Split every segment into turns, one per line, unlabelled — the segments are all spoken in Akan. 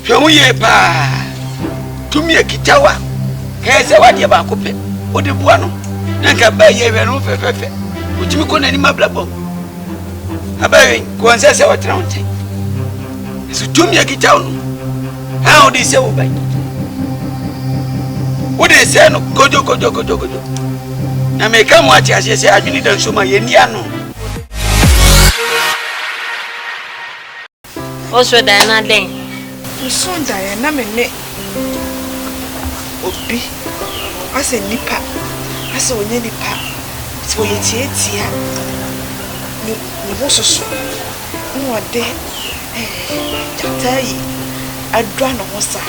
Hwɛ ho yie paa. Tumi a ɛkita wo a, ka yɛ sɛ w'adeɛ baako pɛ wode boa no na nka ɛbaa yie hwɛ no ho fɛfɛɛfɛ. Wotumi kɔ n'anim abrabɔ mu. Abɛwe kɔɔ nsɛ sɛ wɔtena wo nkyɛn. Nso tumi a ɛkita wo no a wode sɛ wo ban. Wode sɛ no kodwo kodwo kodwo kodwo. Na meka mo ate aseɛ sɛ adwene da nso ma yɛnni ano.
Wo soo daeɛ na dɛn? Me soo
daeɛ na me ne obi asɛ nipa asɛ ɔnyɛ nipa sɛ ɔyɛ tiatia ne ne ho soso na ɔde ɛɛ gyata yi adura ne ho saa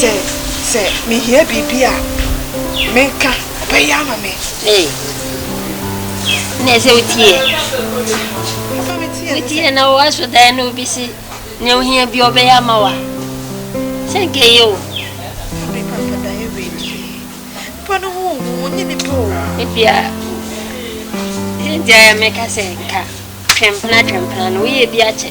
Sɛ sɛ mehia biribi
a, menka, ɔbɛyɛ ama me. Ee, na ɛsɛ wotie. Wotie na woaso dan na obi se nea ohia bi ɔbɛyɛ ama wa. Sɛ nka eye o. Abe papa
da yɛ wei die. Nipa no ho ohu, onye nipa o. Ebia,
ɛnti ayɛ meka sɛ nka twɛmpena twɛmpena no woyɛ bi akyɛ.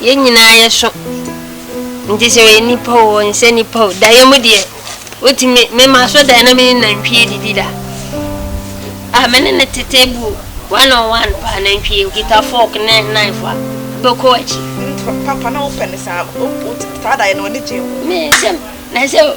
Yɛn nyinaa yɛso, nti sɛ ɔyɛ nipa o ɔnsɛ nipa o daeɛ mu deɛ wotumi mema so daeɛ na mene nantwie didi da a mene ne tete bu one on one paa nantwie okita fork ne knife a bɛkɔ akyi. Papa na wopɛ
ne saa taa daeɛ na ɔne gye ho. Me sɛ
na sɛ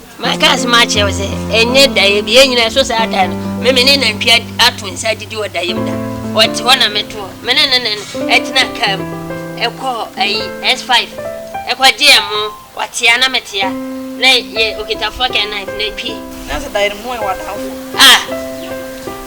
Maka asɛm akyerɛ wo sɛ, ɛnyɛ daeɛ bi, yɛn nyinaa ɛso saa da no, me me ne nantwie ato nsa adidi wɔ daeɛ mu da. Ɔte hɔ na meto hɔ, me ne no ne no ɛtena kaa mu ɛkɔ ayi S5 ɛkɔ gye ɛmo, ɔtea na metea na yɛ ɔkita fork and knife na ɛtwi. Na sɛ daeɛ no moyɛ
w'adamfo? Ah!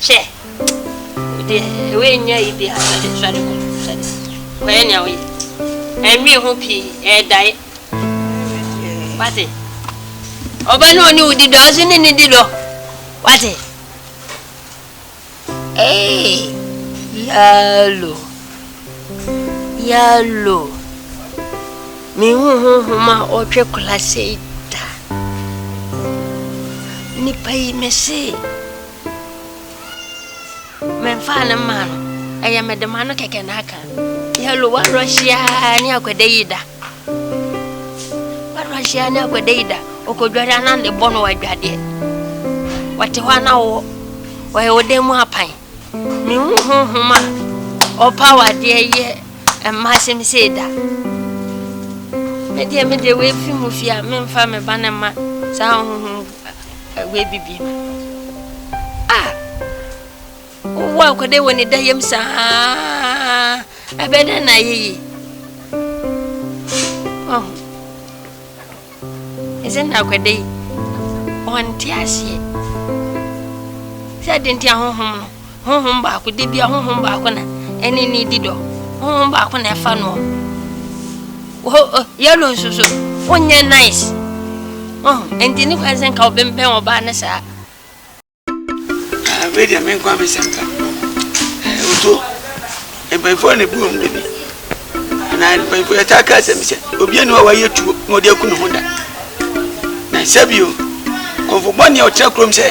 Hwɛ, wo deɛ, wei nyɛ ayi biara, sɔre, sɔre kɔ, sɔre, kɔyɛ nea woyɛ. Ɛnnwen ho pii, ɛɛdae. Wate? Ɔba no ɔne wo di dɔ, wo nso ne ne di dɔ. Wate? Ee, yalo, yalo. Mehu honhom a ɔtwe kora sei da. Nipa yi, me se. Memfaa no mmaa no. Ɛyɛ me dema no kɛkɛ na aka. Hello, wadɔ hyia ne akɔda yi da. Wadɔ hyia ne akɔda yi da. Ɔkɔdware ana ne bɔ no wadwadeɛ. Wɔte hɔ ana wɔ. Wɔyɛ wo dan mu apan. Mehu honhom a ɔpa wadeɛ yɛ mma asɛm sei da. Medeɛ medeɛ wɔafi mu fie a memfa me ba ne ma saa honhom W'abi bi. Ah! Wowɔ akɔdɛ wɔ ne da yam saa. Ɛbɛ dɛ na ayɛ yi. Oh. Ɛsɛ na akɔdɛ yi. Wɔnte aseɛ. Sɛ de nti ahohom no. Honhom baako, da biara Honhom baako na ɛne no di dɔ. Honhom baako na ɛfa noɔ. Wɔ ɔ yellow nso so, wonyɛ nice. Oh, ɛnti ne kwan sɛ nka wobɛmpɛn ɔbaa ne saa. Ah,
wei deɛ me nkoa me sɛm ka. Eh, otuo. Mpanyinfoɔ na ebu wɔn dɛ bi anaa mpanyinfoɔ yɛ taa ka asɛm bi sɛ obiara ni hɔ a wayɛ tuo na ɔde aku ne ho da na sɛbio kɔnfo bɔne a ɔtena kurom sɛ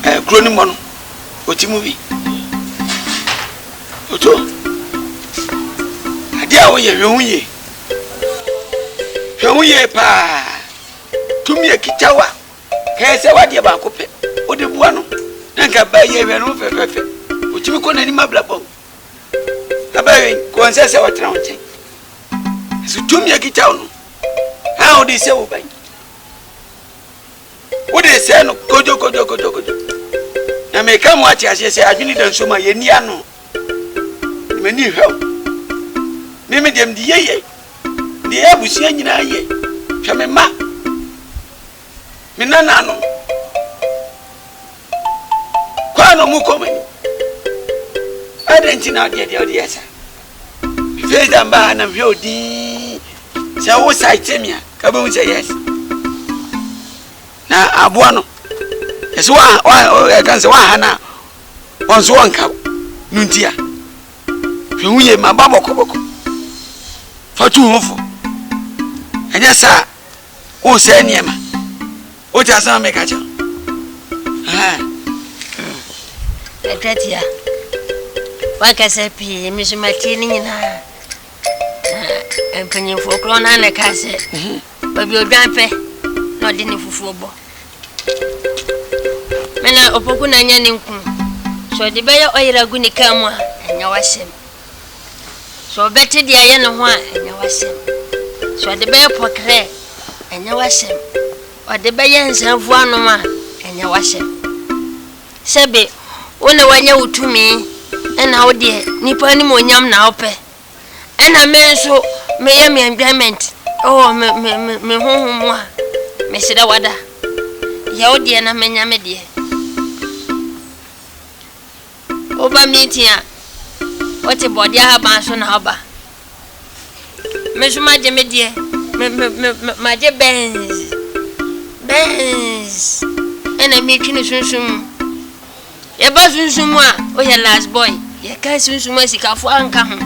ɛɛ eh, kuro no mmɔ no ɔti mu bi oto adeɛ a woyɛ hwɛ ho yie hwɛ ho yie paa tumi akita wa. Kae sɛ w'adeɛ baako pɛ wode boa no na nka baa yi ɛhwɛ no ho fɛfɛɛfɛ, ɔtumi kɔ n'anim abrabɔm. Abɛwen, ka ɔnsɛ sɛ ɔtena wo nkyɛn. Nanso tumi a ɛkita wo no, haa wode sɛ wo ban. Wode sɛe no kodwokodwokodwokodwo. Na meka mo ate aseɛ sɛ adwene da nsuo mu a yɛnni ano. Na m'ani nhwɛ wo. Me me deɛ mede yɛ yɛ. Mede yɛ abusua nyinaa yɛ. Hwɛ me mma. me nananom kwan a wɔkɔ mu ni. Adɛn nti na ɔdeɛ deɛ ɔde yɛ saa? Mefiri da mbaa ha na mehwɛ wo dinn. Sɛ wo saete me a, ka bɛhu sɛ yes. Na aboa no, ɛsɛ wa wa ɛka sɛ waha no a, wɔn nso wɔnka wo. No nti a, hwɛ ho yie ma ba bɔkɔbɔkɔ. Fa tu ho fo. Ɛnyɛ saa a, wosɛe nneɛma wote asɛm a meka kyerɛ
ɛtwatia wakasa pii me so matie ne nyinaa na mpanyimfoɔ korɔ no ana ɛka sɛ baabi odwan pɛ na ɔde ne fufuo bɔ mena ɔpoku na nyɛ ne nku sɛ ɔde bɛyɛ ɔyera gu ne kaa mu a ɛnyɛ wasɛm Sɛ ɔbɛte deɛ ɛyɛ ne ho a, ɛnyɛ w'asɛm. Sɛ ɔde bɛyɛ pɔkerɛ, ɛnyɛ w'asɛm. Ɔde bɛyɛ nsanfuo anom a, ɛnyɛ w'asɛm. Sɛbe, wo na wanya wo tumi, ɛna wo deɛ nipa anim onyam na wopɛ. Ɛna me nso meyɛ me enjoyment ɛwɔ me me me me honhom mu a, mesrɛ wada. Yɛ wo deɛ na menya me deɛ. Woba meeting a, wote bɔɔde ahaban so na woba. Me nso magye me deɛ, me me me me magye Benz, Benz ɛna meretwi no sunsum mu. Yɛba sunsum mu a, woyɛ last boy. Yɛka sunsum asikafoɔ anka ho.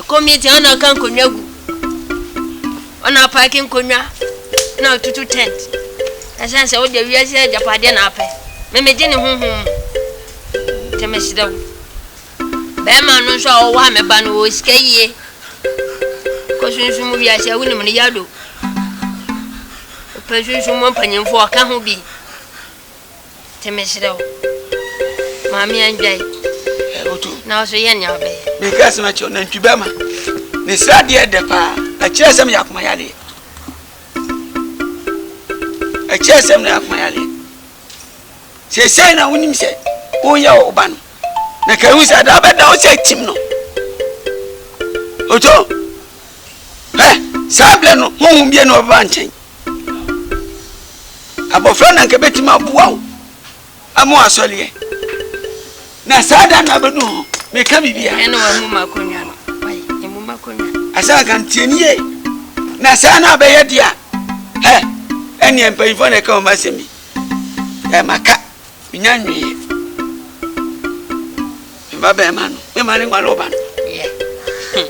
Committee a ɔna aka nkonnwa gu, ɔna apaake nkonnwa, ɔna atutu tent. Ɛsɛn sɛ wode wiase agyapadeɛ na apɛ. Me megye ne honhom mu. Nti mesrɛ wo. Bɛrima no nso a ɔwɔ ha, me ba no, ɔwɔ sika yie. Kɔ sunsum mu wiase a wonim no yado. Wopɛ sunsum mu mpanyimfoɔ a, ka ho bi. Nti meserɛ wo, ma me andwan. Ɛ o to.
Na wo so yɛ nea
wobɛyɛ. Meka asɛm akyerɛ wo, nantwi
bɛrima, ne sradeɛ dɛ paa. Ɛkyerɛ sɛ meyɛ akoma yareɛ. Ɛkyerɛ sɛ meyɛ akoma yareɛ. Seesei na wonim sɛ woreyɛ wo ba no, na ka ehu sɛ da bɛda wo sɛ atim no. Oto, hwɛ, saa berɛ no honhom biara nni hɔ a ɔbɛba nkyɛn. Abɔfra na anka ebetumi aboa wo ama woasɔ leɛ. Na saa da no abɛdu ho, meka biribi a. Ɛna wɔamu m'akonnwa
no. Wayi, ɛmu m'akonnwa. Asɛ anka ntie no
yie. Na saa na abɛyɛ de a, hɛ, ɛneɛ mpanyimfoɔ na ɛka wɔn asɛm bi. Ɛ maka, menya nweeɛ. Mma bɛrima no, mema ne nwale wo ba no. Yeah.
Hmm.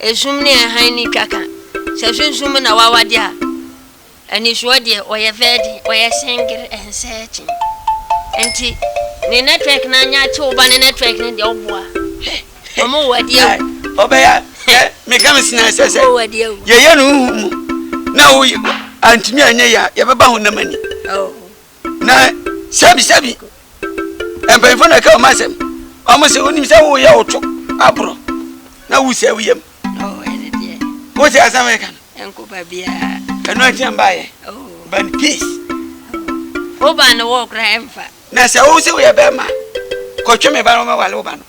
Esum ne hann ne twa ka. Sɛ sunsum mu na w'awade a, anisoɔ deɛ ɔyɛ vɛɛ den, ɔyɛ sengere, ɛnsɛɛ kyen. Nti ne network no anyɛ akye wo ba ne network no deɛ wo boa. Ɔmo wo adi awu. Ɔbɛya hwɛ
me ka me sena ɛsɛ sɛ yɛyɛ no
honhom mu
na wo antumi anyɛ yɛ a yɛbɛba honam ani.
Na
sɛbisɛbi mpanyimfo na ɛka wɔn asɛm. Wɔn se wonim sɛ woyɛ wo to aboro na wosɛe wo yam.
Wote asɛm yɛ ka
no? Ɛnko ba
biara. Ɛno akyi mba
yɛ. But peace.
Wo ba no wɔ kora ɛmfa. Na sɛ wo se woyɛ
bɛrima kɔtwe me ba no wɔmɛwale wo ba no.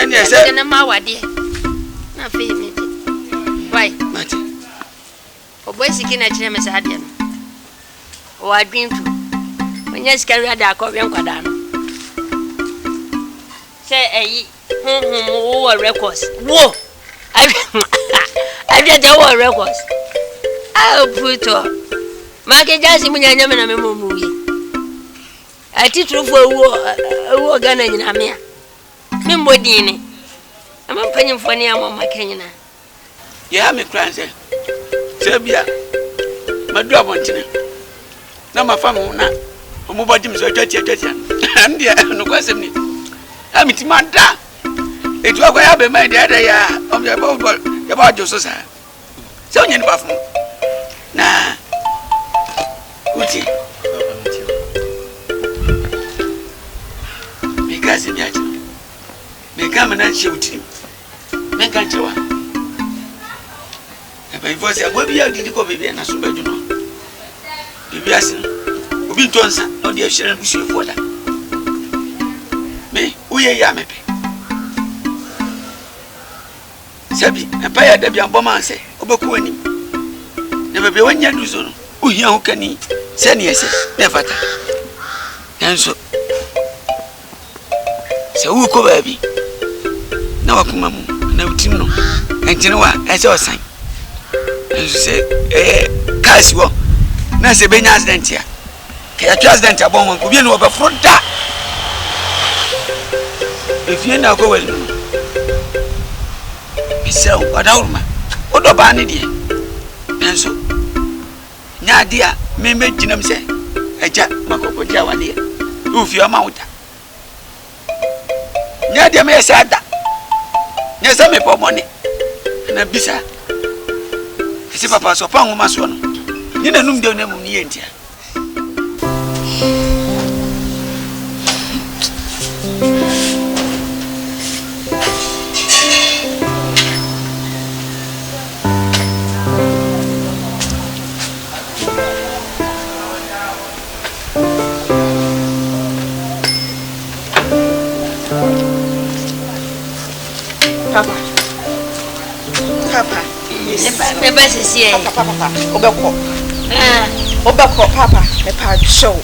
ɛnneɛ sɛ. ɛnneɛ
ma awadeɛ
na afei mi de wai. mate. ɔbɔ esiki na kyerɛ mi saa deɛ no ɔwɔ adwene tu onye sika wia de akɔ wɛ nkwadaa no sɛ ɛyi honhom wowɔ records wo ahwɛ deɛ wowɔ records a putɔ maake gyaase mu nyɛ nyɛ me na me mɔ mu wie Atitirifoɔ awuo wɔ Ghana nyinaa me a me mmɔ din ne ɛma mpanyinfoɔ ne ama ɔma ka nyinaa. Deɛ ɛha
me koraa ne sɛ sɛ ebia madu abɔntene na mafa me ho na wɔn bɔ gye me so atwa tia atwa tia ɛno deɛ nokorɛ asɛm ni a me ti ma da etu akɔ yɛ abɛma yi deɛ ɛdɛ yɛ a wɔn yɛ bɔ bɔ yɛ bɔ adwo so saa. sɛ wonya nipa fo na wotie meka asɛm bi akyerɛ meka ma na nhyɛ wo tirim menka nkyerɛ wa mpanyimfoɔ sɛ aboa bi a odidi kɔ baabi a naso bɛdwo no biribi ase no obi ntɔ nsa na ɔde ahyira no busuafoɔ da me woyɛ yɛ a mepɛ Sɛ bi, mpae a da biara bɔ ma sɛ wobɛkɔ w'anim na baabi a woannya nnuru so no, wohia hokani sɛnea ɛsɛ na ɛfata. Nanso, sɛ worekɔ baabi na w'akoma mu anaa wo tirim no ntene wo a, ɛsɛ sɛ ɔsan. Nanso sɛ ɛyɛ kaa si hɔ na sɛ ebenya accident a, Kɛ ɛtwe accident a bɔ ho nko bienu ɔbɛforo da efie na akɔ wɛri no mesrɛ wo ɔdawuruma wodɔ baa ne deɛ nanso nyɛ adeɛ a mɛmɛgyinam sɛ agya makɔkɔgye awadeɛ ɛwɔ fie ɔma wo da Nyɛ deɛ meyɛ saa da. Nyɛ sɛ mebɔ mmɔne anaa bisa. Ɛse papa sɛ ɔpa nwoma soɔ no nye n'anum dɛw na mmom ne yɛ ntia.
Papa. Papa. Ne ba
sisi ɛ. Papa papa wobɛkɔ.
Wobɛkɔ papa mepa kyɛ wo.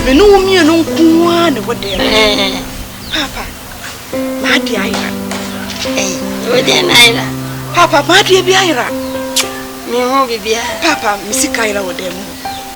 Me ne wo mmienu nko ara na ɛwɔ dan mu. Papa m'ade ayera.
Wode na ayera. Papa m'adeɛ
bi ayera. Mehu
biribiara. Papa me sika
ayera wɔ dan mu.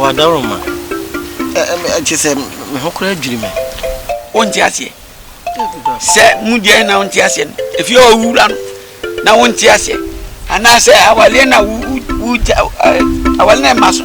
W'adawuruma kyerɛ sɛ me ho koraa dwiri me. Wonte aseɛ
sɛ mu deɛ na wonte aseɛ no efie hɔ wura no na wonte aseɛ anaasɛ awaleɛ na wo wo awale na ɛma so.